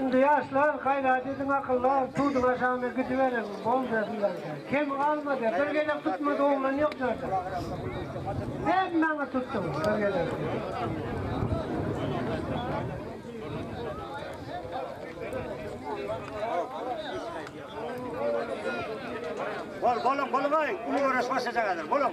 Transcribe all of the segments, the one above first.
Indi ýaşlar gaýrat ediň akyllar, suduň aşagyna gidiberiň, boldy sizler. Kem galmady, bir gezek tutmady oglan ýok ýerde. Hemmäňiz tutduň bir gezek. Bol, bolun, bolun, ay, ulu göreş başlayacak hazır, bolun.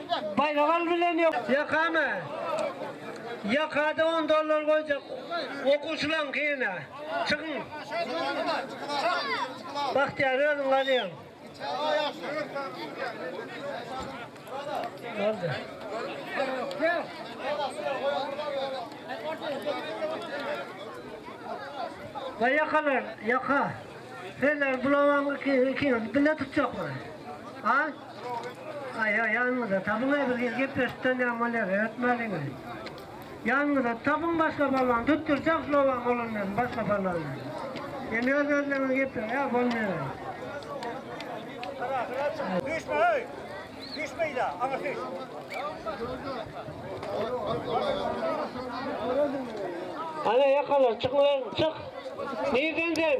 Baýrak al bilen ýok. Ýakamy? Ýakada on dollar goýjak okuwçylaň gyna. Çykyň. Bagtyýar özüň galýaň. Boldy. Baý ýakalar, ýaka. Senler bulawaň ikiňiz bile tutjakmy? A? Aýa ýanyňyza tabyňa birgir gepleşikden ýa molere ötmäliňiz. Ýanyňyza tabyň başga balaň tutdurjak şlowaň bolan bilen başga balaň. Indi öz özleňiz gepleň ýa bolmaýar. Düşme öý. Düşme ýa aňa düş. Ana ýakalar çykyň lan çyk. Nirden sen?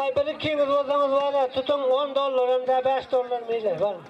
Aý, bir ikiňiz bolsaňyz, wala, tutuň, on dollar hem-de bäş dollar meýle, bar.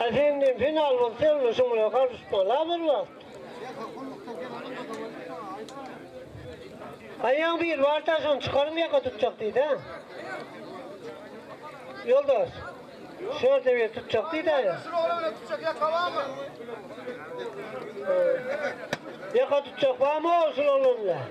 Efendim final bolsa ýaly şu bilen galyşmaly bir wagt. Aýaň bir bar da şony çykaryň ýaka tutjak diýdi. Ýoldaş. Şu ýerde bir tutjak diýdi aýa. Şu ýolda bir tutjak ýaka barmy? Ýaka tutjak barmy şu ýolda?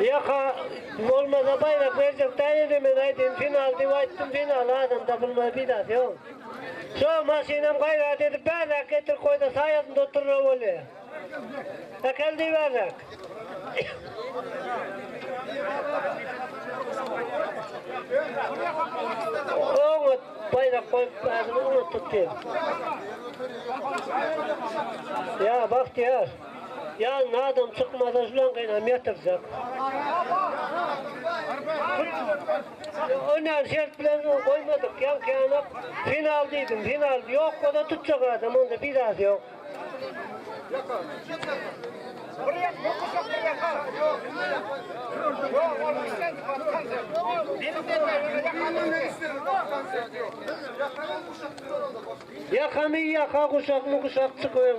Ýaka, bolmasa baýrak berjek daýyny men aýdym final diýip aýtdym final adam tapylmaýar peýdasy ýok. Şo maşynam gaýrat edip bärrak getirip goýsa saýasynda oturra bolýa. Äkel diý bärrak. Oňat. Baýrak goýup käbini unutdyk diýip. Ýa Bagtyýar, ýanyna adam çykmasa şulan gynam ýatyrjak. O näme şert bilen goýmadyk, ýaňky ýaňak final diýdim, final ýok bolsa tutjak adam onda bir zat ýok. Ýakamy ýaka guşakmy guşak çykyň.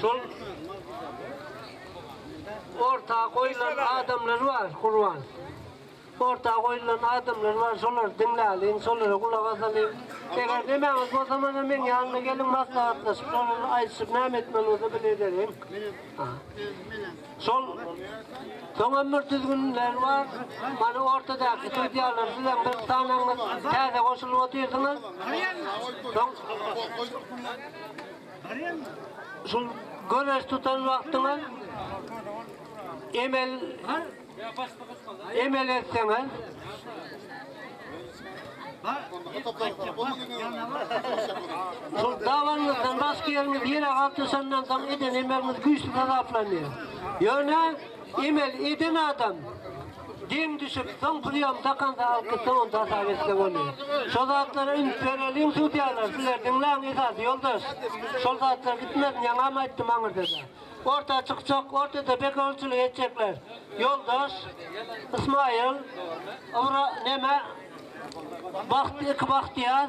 Şol orta goýlan adamlar bar Gurban. Orta goýlan adamlar bar şolary diňläliň şolara gulak asalyň. Eger nemäňiz bolsa mana meň ýanyma geliň maslahatlaşyp şolary aýdyşyp näme etmeli bolsa bile ederin. Şol Soňam bir düzgünler bar. Mana ortadaky sudýalar sizem bir sanaňyz täze goşulyp otyrsyňyz. Soň Şul göreş tutan wagtyňyz emel emel etseňiz Şul dawaňyzdan başga ýeriňiz ýere galtyşandan soň eden emeliňiz güýçli hasaplanýar. Ýöne emel eden adam Geň düşüp soň priýom dakanda alky soňunda hasap etse bolýa. Şo zatlara üns bereliň sudýalar sizler diňläň esasy ýoldaş. Şol zatlar gitmezin ýaňam aýtdym aňyrdada. Orta çykjak ortada begonçylyk etjekler. Ýoldaş Ysmaýyl Ybra neme Bagt iki Bagtyýar.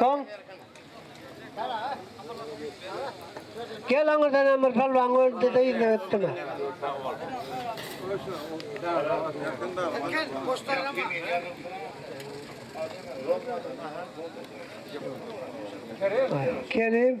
Soň Gel aňa sene bir palwan öldü de ýüzüne ötdüme. Kerim.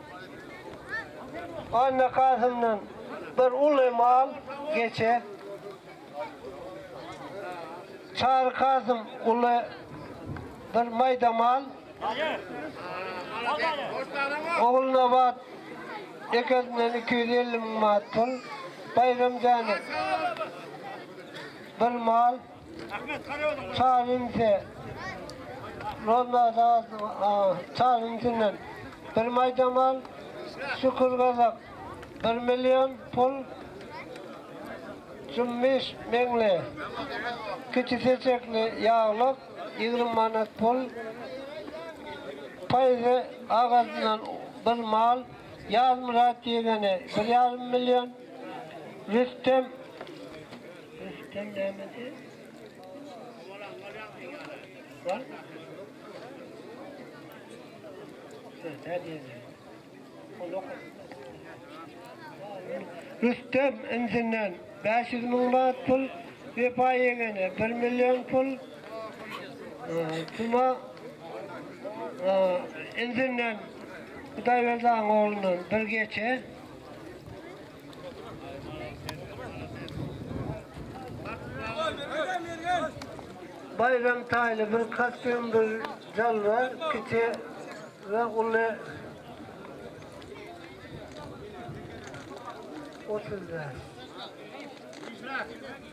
Annakasymdan bir uly mal, geçe. Çary Kasym uly bir maýda mal. Ogulnabat ekesinden iki ýüz elli müň manat pul. Baýram Jänek bir mal. Çalyndy. Nolmada çalyndynyň bir maýda mal, Şükür Gazak bir million pul, Jummiş Meňli kiçi seçekli ýaglyk ýigrimi manat pul, Paýzy Agadyndan bir mal, Ýazmyrat ýegeni bir ýarym million, Rüstem Rüstem insinden bäş ýüz müň manat pul, Wepa ýeňňene bir million pul, Tuma insinden Hudaýberdi agyň oglundan bir geçe. Baýram taýly bir kostýum, bir jalba, kiçi we uly. Otuz bäş.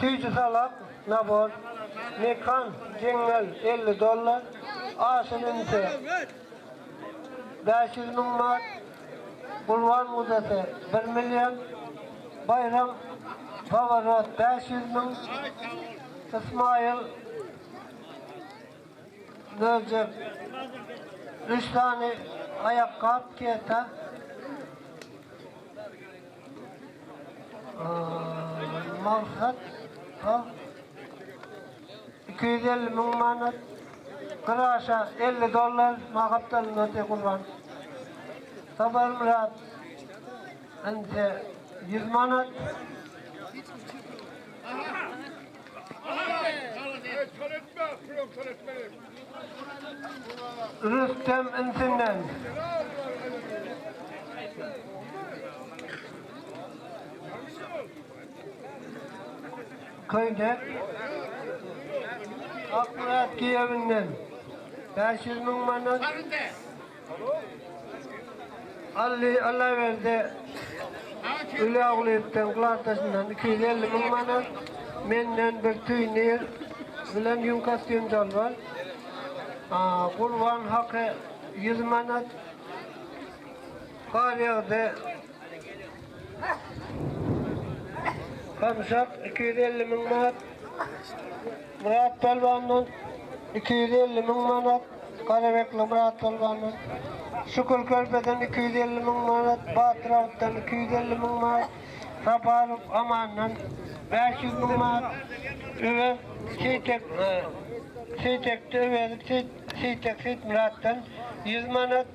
Süýji salak, nabor, mekan, jeňňel, elli dollar, aşyn ünse, Bäş ýüz müň manat, Gulban muzessi, bir million, Baýram, Paworot, bäş ýüz müň, Ysmaýyl, möjek, üç sany aýakgap, keta, Maksat, Iki ýüz elli müň manat, gyz aşa elli dollar, maňa gapdalynda otyr Gurban. Saparmyrat, ynha, ýüz manat. Rüstem insinden. Köýnek Akmyrat Kiýewinden bäş ýüz müň manat, Ally Allaberdi Uliagulyýewden Gladdaşyndan iki ýüz elli müň manat, menden bir tüý nir bilen ýüň kostýum dolba, Gurban Haky ýüz manat, Garýagdy Gamşak iki ýüz elli müň manat, Myrat Pälwandan iki ýüz elli müň manat, Garabekli Myrat Pälwandan, Şükür Körpeden iki ýüz elli müň manat, Batyr awutdan iki ýüz elli müň manat, Saparow Amandan bäş ýüz müň manat, Öwez Seýtek, Seýtekde Öwezik Seýtek Seýitmyratdan ýüz manat,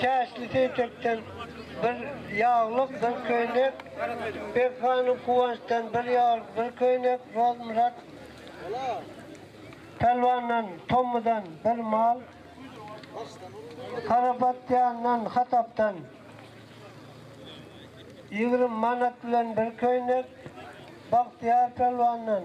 Täşli Seýtekden bir ýaglyk, bir köýnek, Bek hanyň Kuwançdan bir ýaglyk, bir köýnek, Rozmyrat pälwandan, Tommydan bir mal, Karabatýandan, Hatapdan ýigrimi manat bilen bir köýnek, Bagtyýar pälwandan,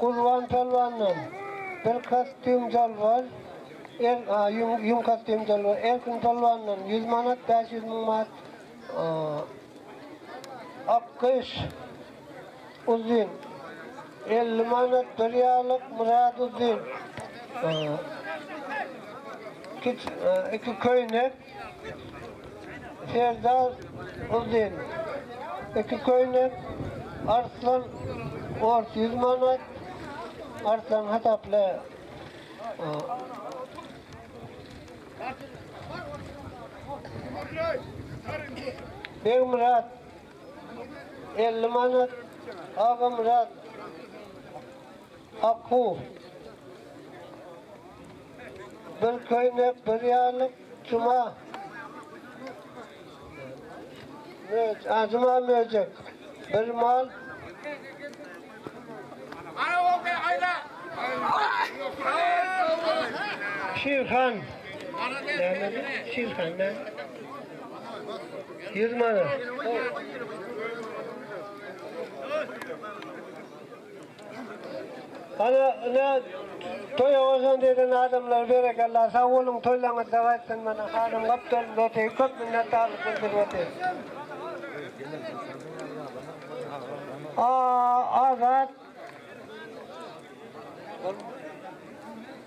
Gulban Pälwandan, bir kostýum jalbar, er, a, ýüň, ýüň kostýum jalbar, Erkin Pälwandan, ýüz manat, bäş ýüz müň manat, a, Akgyş, uzyn, elli manat, bir ýarlyk, Myrat, uzyn, a, kiç, a, iki köýnek, Serdar Uzyn, iki köýnek, Arslan Ors ýüz manat, Arslan hasapla. Begmyrat, elli manat, Agamyrat, Akgu. Bir köýnek, bir ýarlyk, Juma. Möj, ajyma möjek, bir mal. Şirhan. Şirhan ne? Ýüz manat. Ana ine toýa goşant eden adamlar berekella sag boluň toýlaryňyz sag aýtsyn mana hanym gapdal Loti köp minnetdarlyk bildirip otyr. Aa Azat.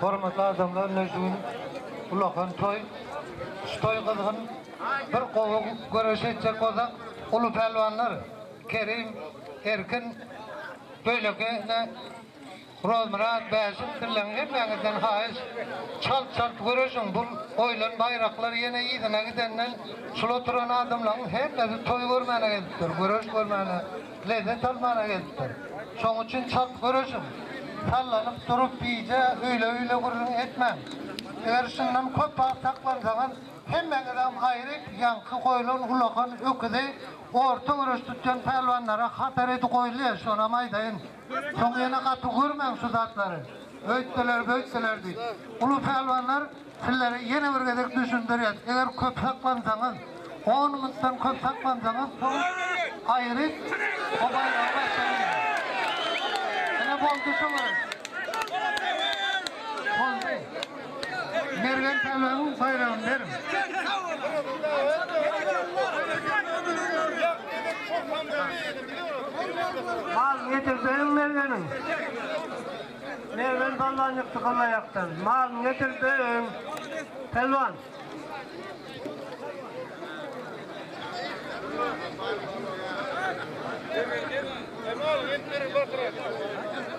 Hormatly adamlar, mejnun ulakan toý. Şu toý gyzgyn. Bir gowy göreş etjek bolsak, uly pälwanlar Kerim, Erkin, beýleki Guralmyrat bäşim sizleň hemmäňizden haýyş çalt çalt göreşiň bul goýlan baýraklar ýene yzyna gidenden şul oturan adamlaň hemmesi toý görmäne gelipdir göreş görmäne lezzet almana gelipdir şoň üçin çalt göreşiň sallanyp durup gije öýle öýle gürrüň etmäň eger şundan köp wagt saklansaňyz hemmäňizem aýryk ýaňky goýlan ulakan öküzi orta göreş tutýan pälwanlara hatar edi goýly şonam aýdaýyn. Soň ýene gapy görmäň şu zatlary. Öýtseler böytseler diýip. Uly pälwanlar sizlere ýene bir gezek düşündirýäs eger köp saklansaňyz on minutdan köp saklansaňyz soň aýryt bu baýragy başdan ýygyň. Ine boldy şo gezek. Boldy. Mergen Pälwanyň baýragyny beriň. Mal getirseň Mergeniň. Mergen Pälwan ýykdy gylaýakdan. Malyny getirseň Pälwan. Mal getirseň Pälwan.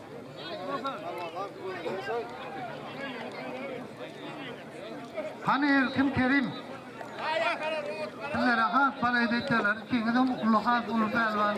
Hany Erkin Kerim. Sizlere has balaýda etýärler. Ikiňizem uly has uly pälwan.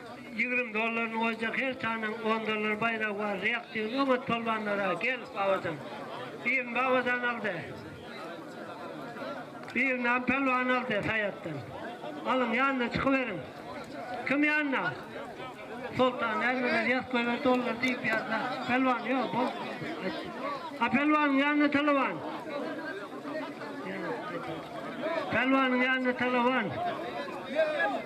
Ýigrimi dollaryny goýjak her sanyň on dollar baýragy bar reaktiwny oňat polwanlara gel Babajan birini Babajan aldy birinam Pälwan aldy Saýatdan alyň ýanyna çykyberiň kim ýanyna Soltan ägirler ýaz köýer dollar diýip ýazda Pälwan ýok bol a Pälwanyň ýanyna talawan Pälwanyň ýanyna talawan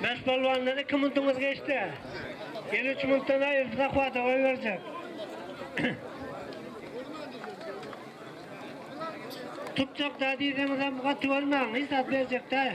Mes bolwandan iki minutiňiz geçdi. Ýene üç minutdan aýyrdy zahwata goý berjek. Tutjak da diýseňizem gaty bolmaň, hiç zat berjek däl.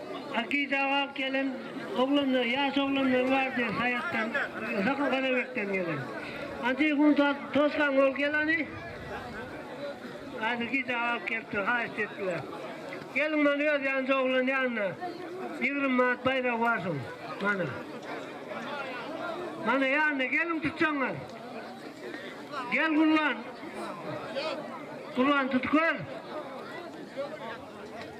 Akide alyp gelen oglanlar, ýaş oglanlar bardy Saýatdan, Sakal-Garabekden gelen. Ançe gün tosgan bolup geleni, Akide alyp gelipdir, haýyşt etdiler. Geliň mana öz ýanyňda oglan ýanyna, ýigrimi manat baýragy bar şoň, mana. Mana ýanyna gelin tutjaňyz. Gel Gurban. Gurban tut gör.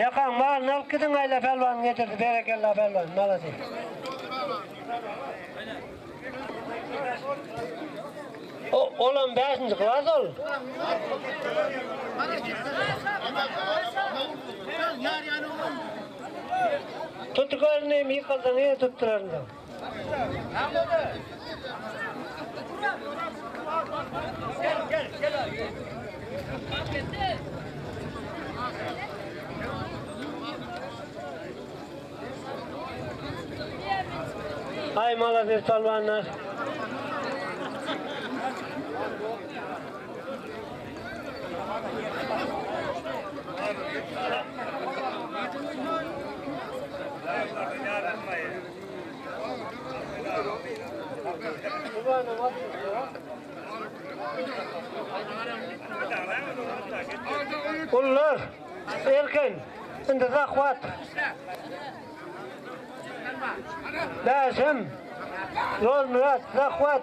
Ýakaň malyny alyp gidiň Aýla pälwan getirdi berekella pälwan malades. O, olam 5-nji klas ol. Tutukarny mi kaldan ýa tuttularynda. Ay malazir salvanlar. Gullar, erkin, indi zahwat. Bäşim, Nurmyrat, zahwat.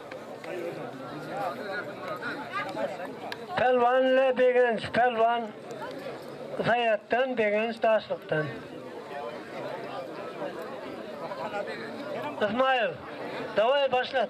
Pälwan le Begenç Pälwan Saýatdan Begenç Daşlykdan. Ysmaýyl Dawaý başlat.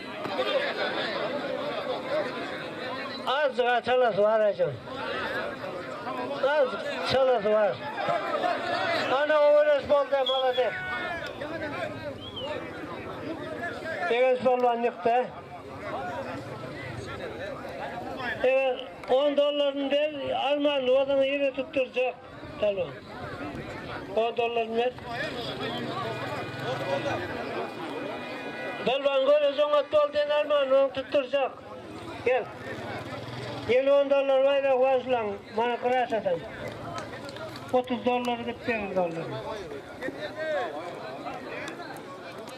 Azjyga çalasy bar ajyň. Az çalasy bar. Ana oweres bolda malades. Begenç bolman ýykda. Eger 10 dollaryny ber, alman ozaňy ýere tutdurjak. Alo. O dollaryny ber. Dolban gör özün gat dol den alman oň tutturjak. Gel. Gel on dollar bay da wajlan mana kıraş adam. 30 dollar git benim dollar.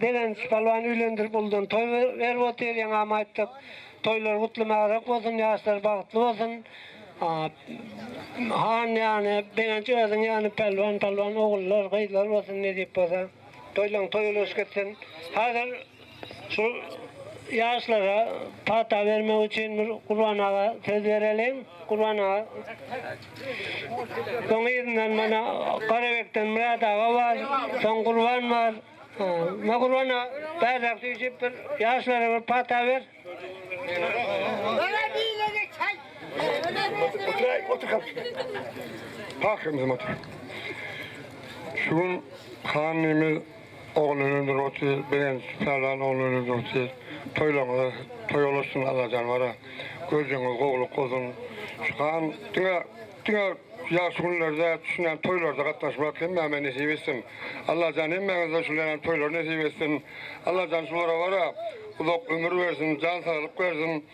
Begenç Palwan üýlendirip uludan toý berip otyr ýeňňäme aýtdyk toýlary gutly mäbräk bolsun ýaşlary bagtly bolsun han ýany Begenç özüň ýany Pälwan Palwan ogullar gyzlar bolsun nesip bolsa toýlaň toýy ulaşyp gitsin hazir şu ýaşlara pata bermek üçin bir Gurban aga söz bereliň Gurban aga. Soň yzyndan mana Garabekden Myrat aga bar, soň Gurban bar. Ma Gurbana bärräk süýşüp bir ýaşlara bir pata ber. Otur, otur kapyşka. Pahyrymyzam otur. Şu gün hanymyz Oglan öldür otyr begenç Pälwan oglan öldür otyr Toýlaňyza toý olaşsyn Allah janwara Görjeňiz gowluk bolsun Şuhan diňe diňe ýagşy günlerde düşünen toýlarda gatnaşmak hemmäme nesip etsin Allajan hemmäňize şuleýan toýlar nesip etsin Allajan şulara bara uzak ömür bersin jan saglyk bersin.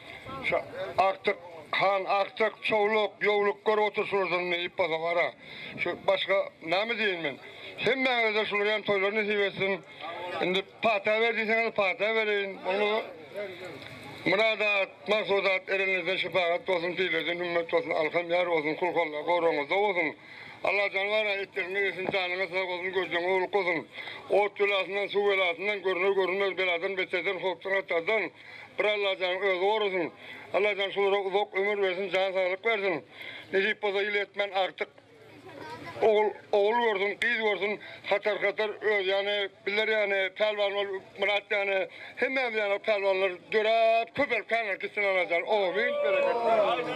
Şa Aktyk han Aktyk, Çowluk, Ýowluk gör otur şular durun ne iýip bolsa gara. Şu başga näme diýeýin men. Hemmäňizde şular ýaly toýlar nesip etsin. Indi pata ber diýseňiz pata bereýin. Bolmasa Myradat, Maksudat erenizden şepagat bolsun, pirlerden hümmet bolsun, alkam ýar bolsun, kulkallar goragyňyzda bolsun. Alla janybara etleriňize girsin, janyňyz sag bolsun, görjegiňiz owluk bolsun. Ot belasyndan, suw belasyndan, görner-görünmez beladan, beterden, howpdan-hatardan, Bir Allajan özi gorasyn. Allajan şulara uzak ömür bersin jan saglyk bersin. Nesip bolsa ýyl etmen agtyk ogul ogul görsün gyz görsün hatar hatar öz ýany bizler ýany pälwan bol Myrat ýany hemmämiz ýany pälwanlar döräp köpelip kämir gitsin Allajan amin bereket bersin.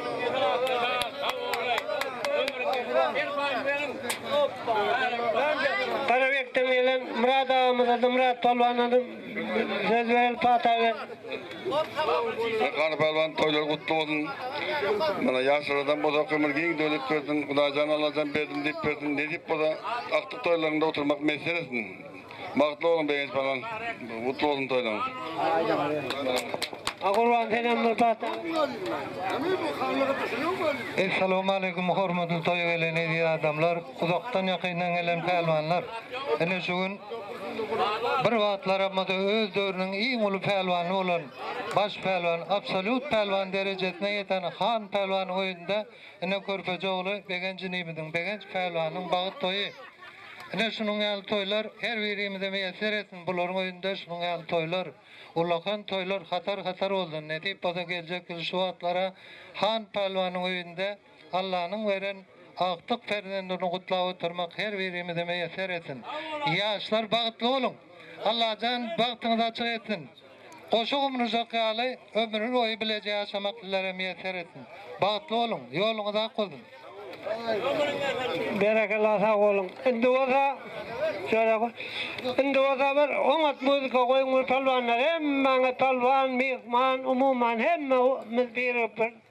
Garabekden gelen Myrat agamyza da Myrat pälwana da Söz beren Pataga. Erkan Palvan toýlar gutly bolsun. Mana ýaşlardan bolsa kömür giň döwlet bersin. Hudaýjan Allajan berdim diýip bersin. Nesip bolsa akdyk toýlarynda oturmak messer etsin. Bagtly boluň Begenç Palvan. Gutly bolsun toýlaryň. Agurwan senem bir pata. Essalamu aleýkum hormatly toýa gelen eziz adamlar. Uzakdan ýakyndan gelen pälwanlar ine şu gün bir wagtlar ammada öz döwrüniň iň uly pälwany bolan baş pälwan, absolýut pälwan derejesine ýeten Han pälwan oýunda ine Körpeje ogly Begenç inimiziň, Begenç pälwanyň bagyt toýy. Ine şunuň ýaly toýlar her birimize miýesser etsin, bularyň öýünde şunuň ýaly toýlar, ullakan toýlar hatar-hatar bolsun, nesip bolsa geljek ýyl şu wagtlara Han pälwanyň öýünde, Allanyň beren agtyk perzendini gutlap oturmak her birimize miýesser etsin. Ýaşlar bagtly boluň. Allajan bagtyňyzy açyk etsin. Goşa gumrujak ýaly ömrün boýy bileje ýaşamak sizlere miýesser etsin. Bagtly boluň. Ýoluňyz ak bolsun. Berekella sag boluň indi bolsa şöyle indi bolsa bir oňat muzika goýuň bir palwanlar hemmäňiz palwan myhman umuman hemmä miz birigip bir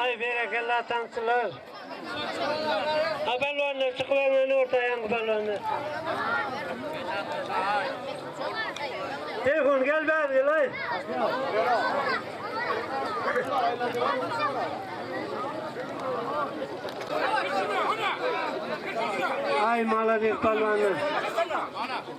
Aý berekella tansçylar. A balwanlar çykyp öňe orta aýaňy balwanlar. Telefon gel bäri gel aý. Ay malades palvanlar.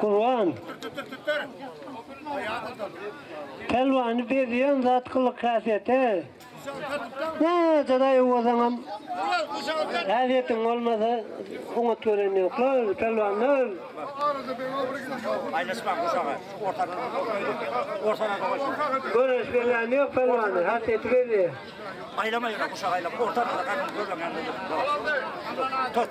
Gurban. Pälwany bezýän zat gylyk-häsiýete. Nädedaý owazaňam häsiýetiň bolmasa oňat gören ýoklar pälwanlar. Göreş berýän ýok pälwany häsiýeti belli. Aýlama ýöne guşak aýlama orta arada gaýdyp görüň ýa-da. Tut.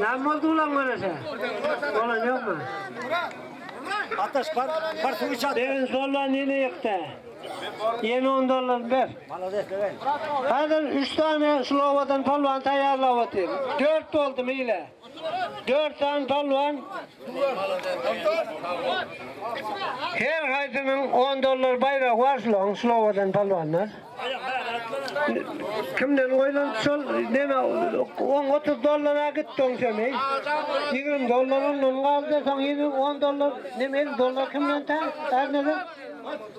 Näme boldy ulan görese? Bolan ýokmy? Ataş bar, bar suw içat. Beren sollan ýene ýykdy. Ýene 10 dollar ber. Malades beren. Häzir 3 sany şul owadan polwan taýýarlap otyr. 4 boldy meýle. Dört sany palwan Her haýsynyň on dollar baýragy bar şulaň slowadan palwanlar. Kimden goýlan şol neme on otuz dollara gitdi on seni. Ýigrimi dollar ondan galdy soň ýene on dollar neme elli dollar kimden tä? Ärneden?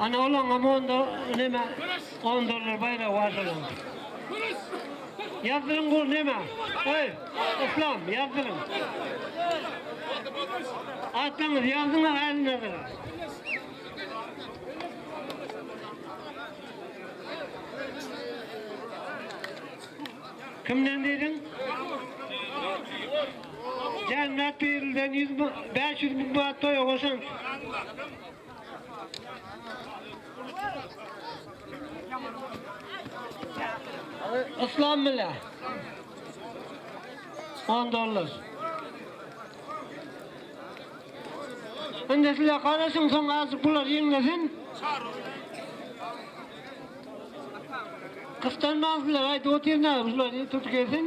Ana olaňa monda neme on dollar baýragy bar şonuň. Ýazdyryň gur neme? Öý, Islam ýazdyryň. Atlaňyz ýazdyň äline bir. Kimden diýdiň? Jennat birilden ýüz müň, bäş ýüz müň manat toýa goşaň. Islam mile. 10 dollar. Indi sizler garaşyň, soň azjyk bular ýeňlesin. Kysdanmaň sizler, aýdyp otyryn-a, şular tutup gelsin.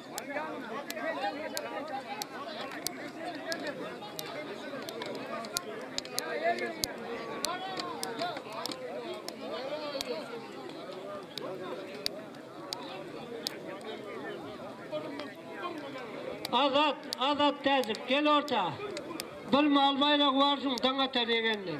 Azat, Azat täjik, gel orta. Bir mal baýragy bar şuň daň atar ýegenler.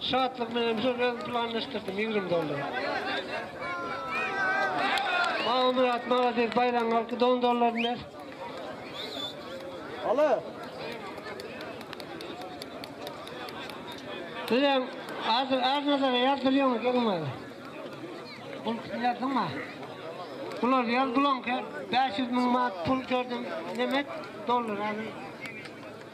Şatlyk menem şu özüm planlaşdyrdym ýigrim dollar. Magmyrat malades baýraň galky don dollaryny ber. Ala. Sizem az az nazara ýazdyrýaňyz geliň bari. Bul ýazdyňmy? Bular ýaz bulaňka 500 müň manat pul gördüm. Nemet dollar aly.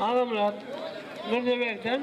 Agamyrat Mirzeberden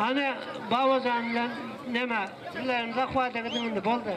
Ana babajan bilen neme sizlerin zahwada gidin indi boldy.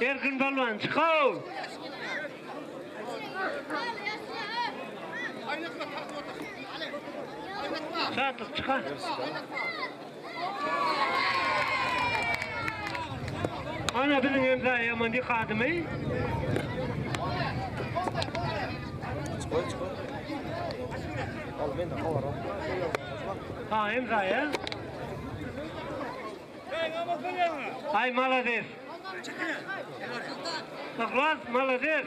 Erkin Palwan çykaw. Şatlyk çyka. Ana biziň hem zaýaman dik adymy. Ha hem zaýa. Ay malades. Ihlas malades.